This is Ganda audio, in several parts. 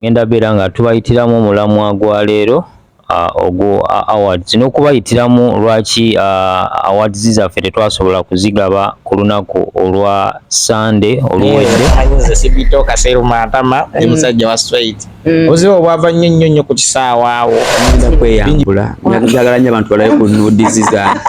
ngenda beera nga tubayitiramu omulamwa gwa leero ogwo awards n'okubayitiramu lwaki awards zaffe tetwasobola kuzigaba ku lunaku olwa sande oluweddeomusajja mm. wa straight mm. obuzibu obwava nnyo nnyo nnyo ku kisaawa awo kweyambula njagala nnyo abantu balabe ku nudizi zange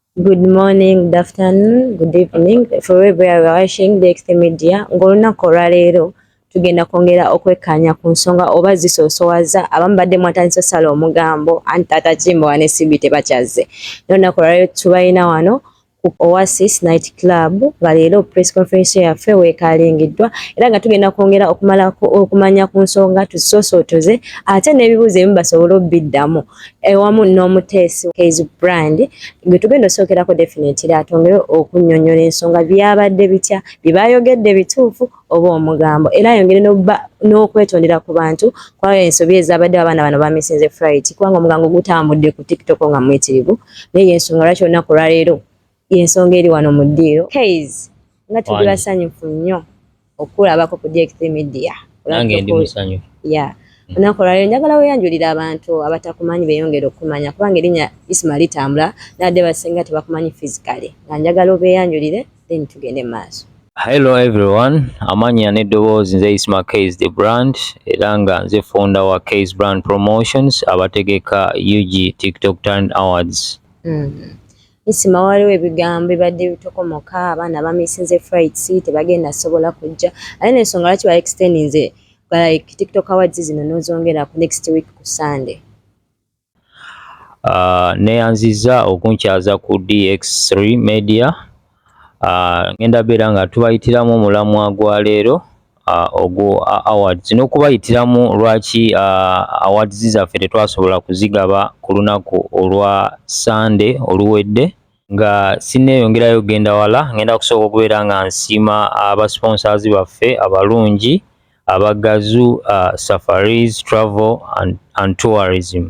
Good morning, good afternoon, good evening for wherever you are watching DXT Media. Ng'olunaku olwaleero tugenda kwongera okwekkaanya ku nsonga oba zisoosowaza abamu badde mwatandisa osala omugambo anti taata kimbo wane sibi tebakyazze n'olunaku olwaleero tubalina wano ku Oasis Night Club nga leero press conference yaffe weekalingiddwa era nga tugenda kwongera okumala okumanya ku nsonga tuzisoosotoze ate n'ebibuuzo ebimu basobole obiddamu ewamu n'omuteesi Kayz Brand gwe tugenda osookerako definitely atongere okunnyonnyola ensonga byabadde bitya bye baayogedde bituufu oba omugambo era ayongere n'okwetondera ku bantu kwayo ensobi ezaabadde abaana bano bamisinze frit kubanga omugango gutambudde ku tiktok nga muyitirivu naye yensonga lwaki olunaku olwaleero yensonga eri wano mu ddiiro kays nga tuli basanyufu nnyo okukulabako ku dkt media nange ndi musanyufu ya mm. olunaku olwaliro njagala weyanjulira abantu abatakumanyi beyongere okukumanya kubanga erinnya isma litambula nadde basinga tebakumanyi physically nga njagala obeyanjulire then tugende mu maaso Hello everyone, amanya n'eddoboozi nze Isma Kays the brand era nga nze founder wa Kays Brand Promotions abategeka UG TikTok Talent Awards. Mm. Isma waliwo ebigambo bibadde bitokomoka abaana bamisinze frights tebagenda sobola kujja ate nensonga lwaki ba extendinze like tiktok awards zino nozongera ku next week ku sunday Uh, neyanziza okunkyaza ku DX3 Media uh, ngenda beera nga tubayitiramu omulamwa gwa leero ogwo awards n'okubayitiramu lwaki awards zaffe tetwasobola kuzigaba ku lunaku olwa Sunday oluwedde nga sinneeyongerayo genda wala ngenda kusooka okubeera nga nsiima abasponsors baffe abalungi abagazu safaris travel and tourism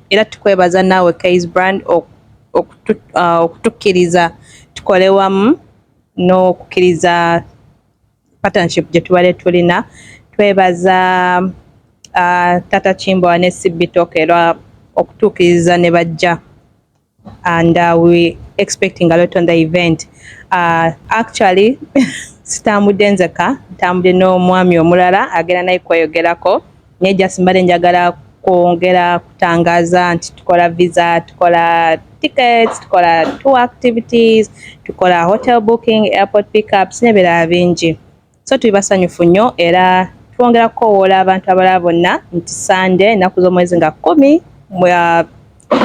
era tukwebaza naawe Kayz Brand okutukkiriza tukole wamu n'okukkiriza partnership gye tubadde tulina twebaza uh, tata kimbowa ne sibitoka era okutuukiriza ne bajja and uh, we expecting a lot on the event uh, actually sitambudde nzeka ntambudde n'omwami omulala agenda naye kweyogerako naye just mbadde njagala kwongera kutangaza nti tukola visa tukola tickets tukola tour activities tukola hotel booking airport pickups n'ebirala bingi So tuli basanyufu nnyo era twongera kukowoola abantu abalala bonna nti Ssande ennaku z'omwezi nga kkumi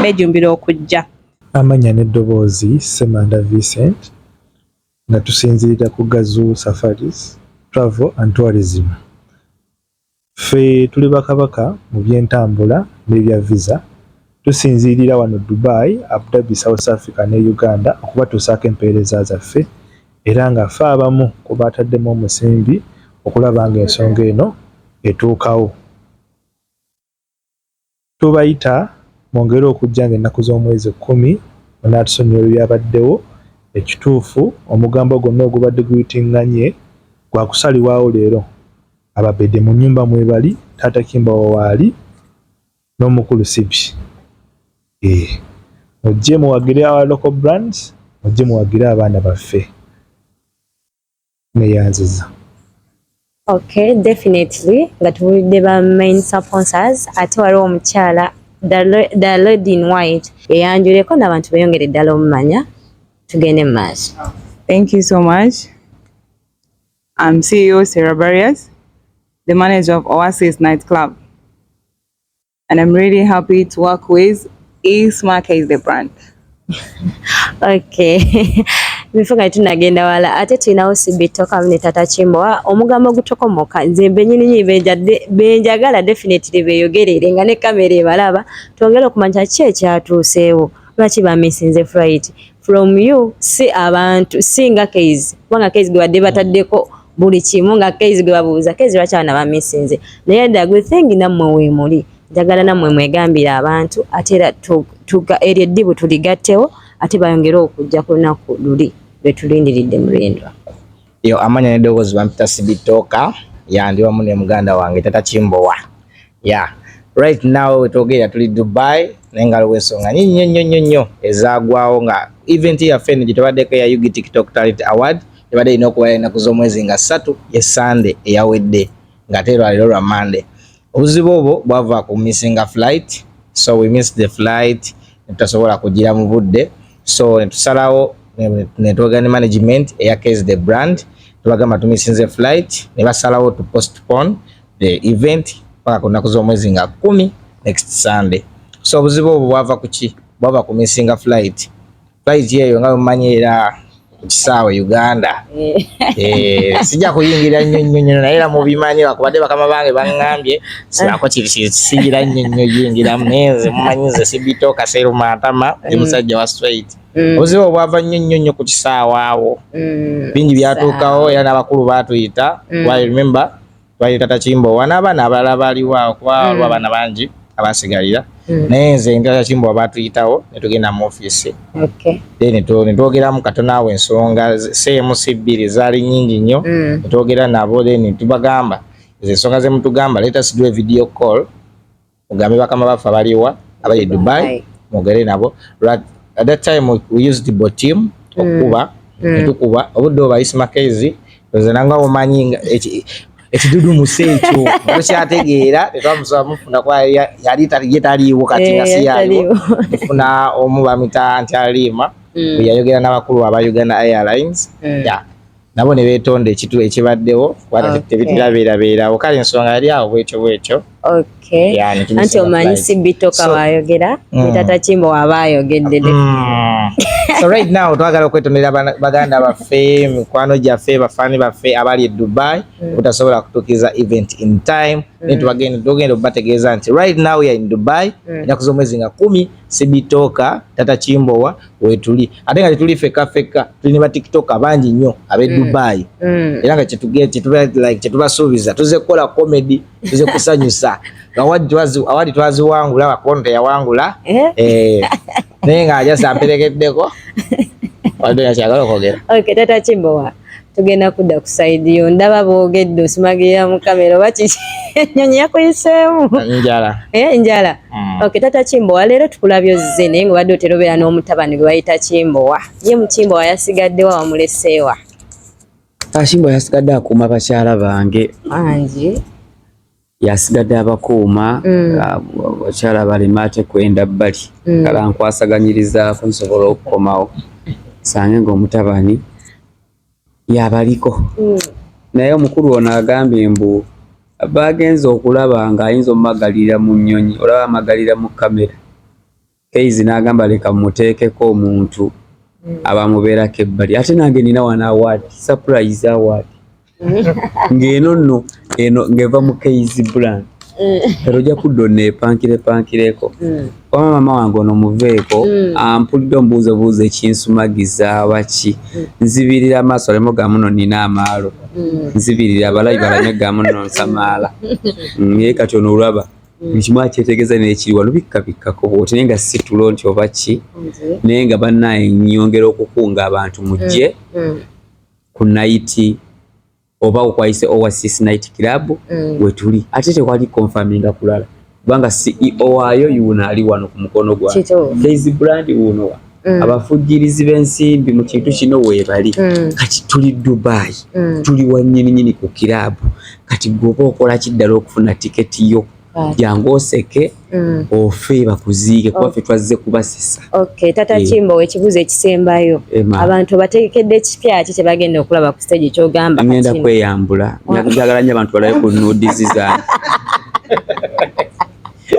beejumbira okujja. Amannya n'eddoboozi, Ssemanda Vincent nga tusinziira ku Gazuu Safaris Travel and Tourism. Ffe tuli bakabaka mu by'entambula n'ebya Visa. Tusinziirira wano Dubai, Abu Dhabi, South Africa ne Uganda okubatuusaako empeereza zaffe era nga ffe abamu ku baataddemu omusimbi okulaba ng'ensonga eno etuukawo. Tubayita mwongere okujja nga ennaku z'omwezi kkumi munaatusonyiwa ebyabaddewo, ekituufu omugambo gwonna ogubadde guyitinganye gwa kusalibwawo leero, ababede mu nnyumba mwebali, Taata Kimbowa waali n'omukulu Sipi eeh mujje muwagire our local brands, mujje muwagire abaana baffe. neyanziza Okay, definitely nga tubulidde ba main sponsors ate waliwo omukyala the lady in white eyanjuleko n'abantu beyongere ddala omumanya tugende mu maaso thank you so much I'm CEO Sarah Barriers the manager of Oasis Night Club and I'm really happy to work with Ismaka is the brand. okay bifu nga tunagenda wala ate tulinawo sibitoka ne tata kimbowa omugambo gutokomoka nze mbenyininyini benjadde benjagala definitely beyogerere nga ne kamera ebalaba twongere okumanya ki ekyatuuseewo lwaki bamisinze fright from you si abantu si nga keizi kubanga keizi gwe badde bataddeko buli kimu nga kezi gwe babuuza kezi lwaki abaana bamisinze naye the good thing nammwe weemuli njagala nammwe mwegambire abantu ate era tuga eryo eddibu tuligattewo ate bayongere okujja ku lunaku luli lwe tulindiridde mulindwa yo amanya n'eddoboozi bampita sibitooka yandi wamu ne muganda wange tata kimbowa Yeah. Right now wetwogera tuli Dubai naye nga aliwo ensonga nyingi nnyo nnyo nnyo nnyo ezaagwawo nga event yaffe eno gye tubaddeko eya Yugi TikTok Talent Award ebadde erina okuba ennaku z'omwezi nga ssatu ye Sande eyawedde ng'ate lwaliro lwa Mande. Obuzibu obwo bwava ku missinga flight so we miss the flight netutasobola kugira mu budde so netusalawo netwogera ne management eya Kez the brand tubagamba tumisinze flight ne basalawo to postpone the event paka ku naku z'omwezi nga kumi next Sunday. So obuzibu obwo bwava kuki? Bwava ku missing flight. Flight yeyo nga mumanyi era kisaawe Uganda eh. Eh, sijja kuyingira nnyo nnyo nnyo naye era mubimanyi bakubadde bakama bange baŋŋambye sibako kisigira nnyo nnyo yingira menze mumanyi nze sibito kaseeru matama ndi mm. musajja wa straight mm. obuzibu obwava nnyo nnyo nnyo ku kisaawe awo mm. bingi byatuukawo era n'abakulu baatuyita i remember twali tata kimbowa n'abaana abalala baaliwo akwalwa mm. abaana bangi abasigalira mm. naye nze tata kimbowa baatuyitawo ne tugenda mu ofiisi then netwogeramu katono awo ensonga cmc bbiri zaali nyingi nnyo mm. netwogera nabo then tubagamba ezo ensonga zemutugamba let us do a video call mugambe bakama baffe abaliwa abali dubai mwogere nabo at that time we used the botim mm. okukuba mm. netukuba obudde obayisi makezi nze nanga omanyi ekidudu musi ekyo tukyategeera tetwamusaba mufuna kuba yali ye taliiwo kati nga eh, siyaaliwo mufuna omu bamita nti aliima mm. yayogera n'abakulu aba uganda airlines mm. nabo ne beetonda ekitu ekibaddewo kubanga okay. tebitirabeerabeerawo kale ensonga yali awo bwetyo bwetyo okay. anti omanyi si bitoka so, waayogera mm. ne tata kimbo waba ayogedde mm. so right now twagala okwetondera baganda baffe mikwano gyaffe bafaani baffe abali e dubai mm. obutasobola mm. kutuukiza event in time mm. ne tubagenda tugenda okubategeeza nti right now ya in dubai mm. enaku z'omwezi nga kumi sibitoka tata kimbowa wetuli ate nga tetuli fekka fekka tuli ne ba tiktoka bangi nnyo ab'e mm. dubayi mm. era nga kyetubasuubiza tuze kukola komedi tuze kusanyusa awali twaziwangula wakono teyawangula eh? Eh. naye nga ajasa amperekeddeko walidoyakyagala okwogera tata kimbowa tugenda kudda ku sayidi yo ndaba boogedde osumagirira mu kamera oba kiki enyonyi yakuyiseemu njala eh, njala mm. ok tata kimbowa leero tukulabye ozze naye nga obadde otera obeera n'omutabani gwe bayita kimbowa ye mukimbowa yasigaddewa wamuleseewa akimbowa yasigadde akuuma bakyala bange angi yasigadde abakuuma mm. abakyala balema ate kwenda bbali mm. kala nkwasaganyirizaako nsobola okukomawo sange ngaomutabani yabaliko mm. naye omukulu ono agambye mbu bagenze okulaba ngaayinza omumagalira mu nyonyi olaba amagalira mu kamera Kayz n'agamba leka mmuteekeko omuntu hmm. abamubeerako ebbali ate nange nina wana award surprise award ng'eno nno eno ng'eva mu Kayz brand ero ojja kudda oneepankirepankireko mm. wama maama wange ono muveeko mm. ampulidde omubuuzo buuzo ekinsumagiza baki mm. nzibirira amaaso aleme ga muno nina amaalo nzibirira abalabi balame ga muno nsamaala naye kati ono olwaba buli kimu akyetegeeza nekiri wano bikkabikkako bwoti naye nga si tulo nti oba ki naye nga banaye nyongera okukunga abantu mujje mm, mm. ku nayiti oba okwayise oasis night club mm. wetuli ate tekwali konfaminga kulala kubanga ceo waayo yuuno ali wano ku mukono gwa kezi brand wuunowa Mm. abafujjirizi b'ensimbi mu kintu kino weebali mm. kati tuli dubai mm. tuli wanyininyini ku kiraabu kati gweoba okola kiddala okufuna tiketi yo jangu oseke mm. ofe bakuziike kuba fe twazze kubasesa okay, tata yeah. kimba wekibuzo ekisembayo Ema. abantu obategekedde ekipya ki kyebagenda okulaba ku stage kyogamba ngenda kweyambula njagala nyo abantu balabe ku nudizi zange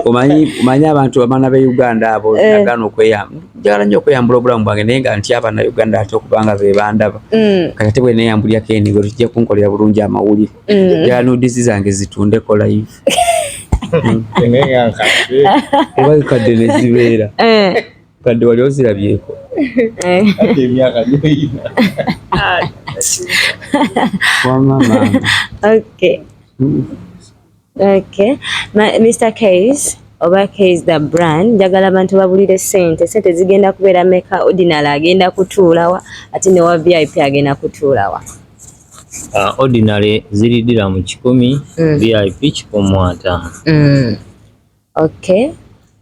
omanyi omanyi abantu abaana be uganda abo eh. nagana okweyamba njagala nnyo okweyambula obulamu bwange naye nga nti abana uganda ate okubanga be bandaba mm. kati ate bweneyambulyako enigo tujja kunkolera bulungi amawulire mm. njagala nudizi zange zitundeko live oba kadde nezibeera eh. kadde wali ozirabyeko eh. emyaka gyoyina wamama okay mm. Okay. Ma, Mr. Kays, oba Kays the brand, njagala abantu babulire sente. Sente zigenda kubeera meka ordinary agenda kutuulawa ate ne wa VIP agenda kutuulawa. Uh, ordinary ziridira mu kikumi, mm. VIP kikumi ataano. Mm. okay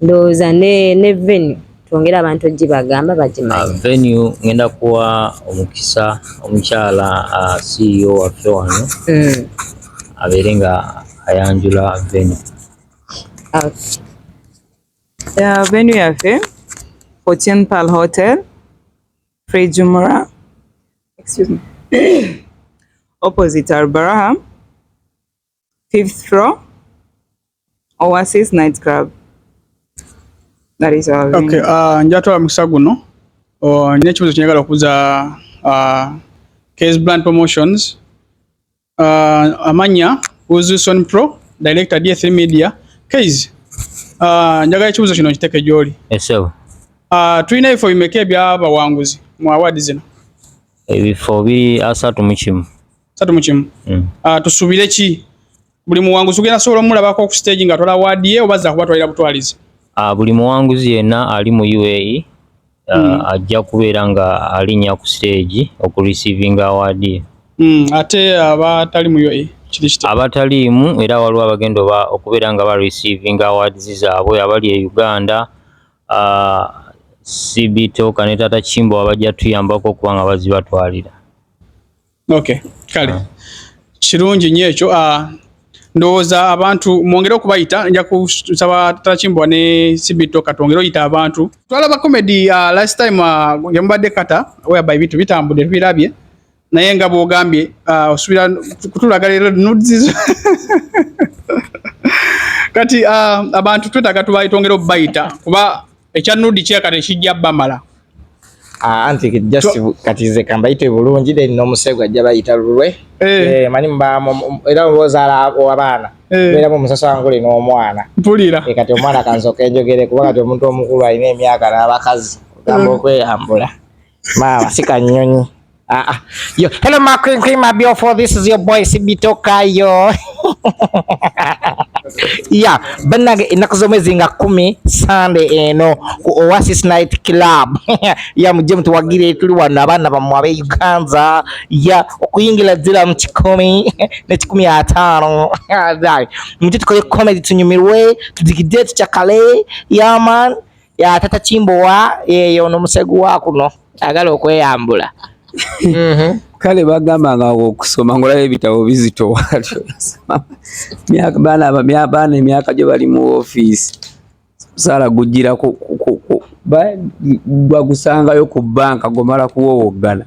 ndowooza ne ne venue twongere abantu ogibagamba bagimanyi uh, venue ngenda kuwa omukisa omukyala uh, CEO waffe wano mm. abeere nga ayanjula venue okay. yeah, venue yaffe 14 pal hotel free jumura excuse me opposite albaraha fifth floor Oasis night club that is our okay uh, njatwala mukisa guno uh, nina ekibuzo kyenyagala okubuza uh, case brand promotions uh, amanya uzuson pro director d3 media case uh, njagala ekibuzo kino nkiteke gyoli yes, uh, tulina ebifo bimeka ebyabawanguzi mu awaadi zino ebifo biri asatu mu kimu satu mu kimu mm. uh, tusubire ki buli muwanguzi ogenda sobola omulabako ku stage nga atwala waadi ye oba zakubatwalira butwalizi uh, buli muwanguzi yenna ali mu uae uh, mm. ajja kubeera nga alinnya ku stage okureceivinga awaadi ye mm. ate abatali uh, mu uae abataliimu era waliwo abagenda oba okubeera nga bareceivinga awards zaabwe abali e uganda uh, cbtoka ne tata kimbo abajja tuyambako okuba nga bazibatwalira Okay, kale ah. kirungi nnyo ekyo ah, ndowooza abantu mwongere okubayita nja kusaba takimbwa ne sibito katwongere oyita abantu twalaba comedy uh, last time uh, yamubadde kata whereby bintu bitambudde tubirabye naye nga bwogambye uh, osubira kutulaga leero nudzizo kati uh, abantu twetaaga tubaitwongere okubayita kuba Ekya nudi kye kale kijja bamala. Ah, anti just so, kati ze kambayite bulungi then no musego ajja bayita lulwe. Eh, eh mani mba era roza la abana. Eh. Era mu musasa wangu le no omwana. Mpulira. E kati omwana kanzo kenjogere kuba kati omuntu omukulu alina emyaka na abakazi. Gambo mm. kwe ambula. Mama sika nyonyi. Ah, ah. Yo, hello my queen queen my beautiful. This is your boy Sibito Kayo. yeah, banage ennaku z'omwezi nga kumi Sunday eno eh, ku Oasis Night Club ya mujje mutuwagire tuli wano abaana bammwe ab'e Uganda ya okuyingira ddira mu kikumi ne kikumi ataano mujje tukole comedy tunyumirwe tudigide tucakale yaman yeah, ya tata kimbowa yeyo ono musegu wa kuno agala okweyambula mhm. kale bagamba nga okusoma ngolaba ebitabo bizito watyo baana emyaka gyo bali mu ofiisi omusaala gujjira gwagusangayo ku banka gomala kuwowoggana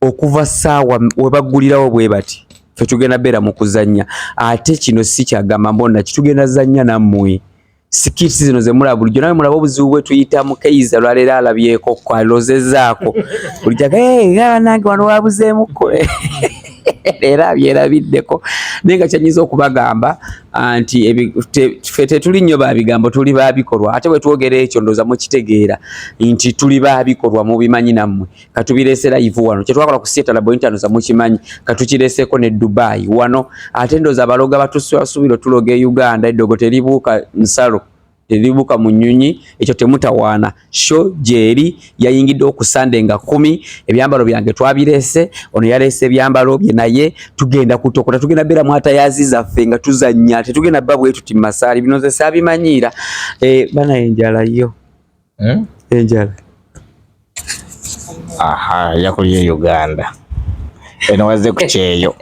okuva saawa webaggulirawo bwe bati fe tugenda beera mu kuzannya ate kino si kyagamba mbonna kitugenda zannya nammwe sikirisi zino zemulaba bulijjo nawe mulaba obuzibu bwetuyitamu keiza lwaleero alabyeko kwalozezaako bulijjo abanange wano wabuzeemuko era abyerabiddeko naye nga kyanyiza okubagamba ah, nti fe tetuli nnyo babigambo tuli babikolwa ate bwetwogera ekyo ndoza mukitegeera nti tuli babikolwa mubimanyi nammwe katubireese live wano kyetwakola ku sieta labo internet za mukimanyi katukireeseko ne Dubai wano ate ndoza abaloga batusubiro tuloga e Uganda edogo telibuka nsalo telibuka munyunyi ekyo temutawaana sho jeri yayingidde okusande nga kumi ebyambalo byange twabireese ono yaleese ebyambalo bye naye tugenda kutokota tugenda bera mwata yaziza ffe nga tuzannya tetugenda babwetu timasaali binoze sabimanyiira e, eh, bana enjala yo hmm? enjala aha yakulye Uganda eno wazze ku kyeyo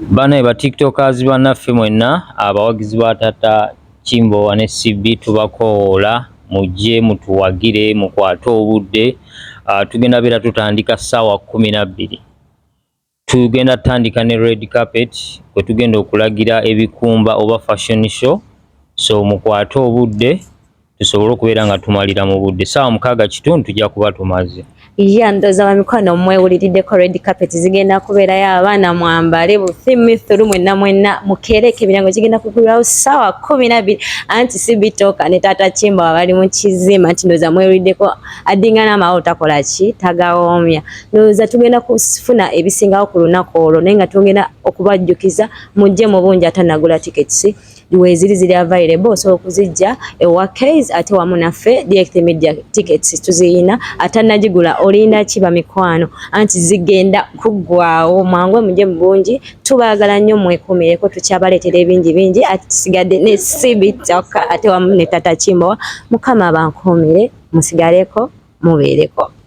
bane ba tiktokers banaffe mwenna abawagizi ba tata Kimbowa ne CB tubakowoola mujje mutuwagire mukwate obudde ah, tugenda beera tutandika ssaawa kumi na bbiri Tugenda tutandika ne red carpet kwe tugenda okulagira ebikumba oba fashion show, so mukwate obudde tusobole okubeera nga tumalira mu budde saawa mukaaga kitundu tujja kuba tumaze. Ya ndoza wa mikwano mwewuliriddeko red carpet zigenda kubeerayo abaana mwambale buthimithulu mwenna mwenna mukeereke ebirango gigenda kugulwawo saawa kumi nabiri anti si bitooka ne taata kimba wabali mu kizimba nti ndoza mwewuliddeko addingana amawolo takola ki tagawoomya. ndowooza tugenda kufuna ebisingawo ku lunaku olwo naye nga tugenda okubajjukiza mujje mu bungi atanagula tickets weziri ziri available osobola okuzijja ewa kays ate wamu naffe direct media tickets tuziyina atanagigula olinda ki bamikwano anti zigenda kuggwawo mwangwe mujje mu bungi tubaagala nnyo mwekuumireko tukyabaleetera ebingi bingi ati tusigadde ne sibitoka ate wamu ne tata kimbowa mukama bankuumire musigaleko mubeereko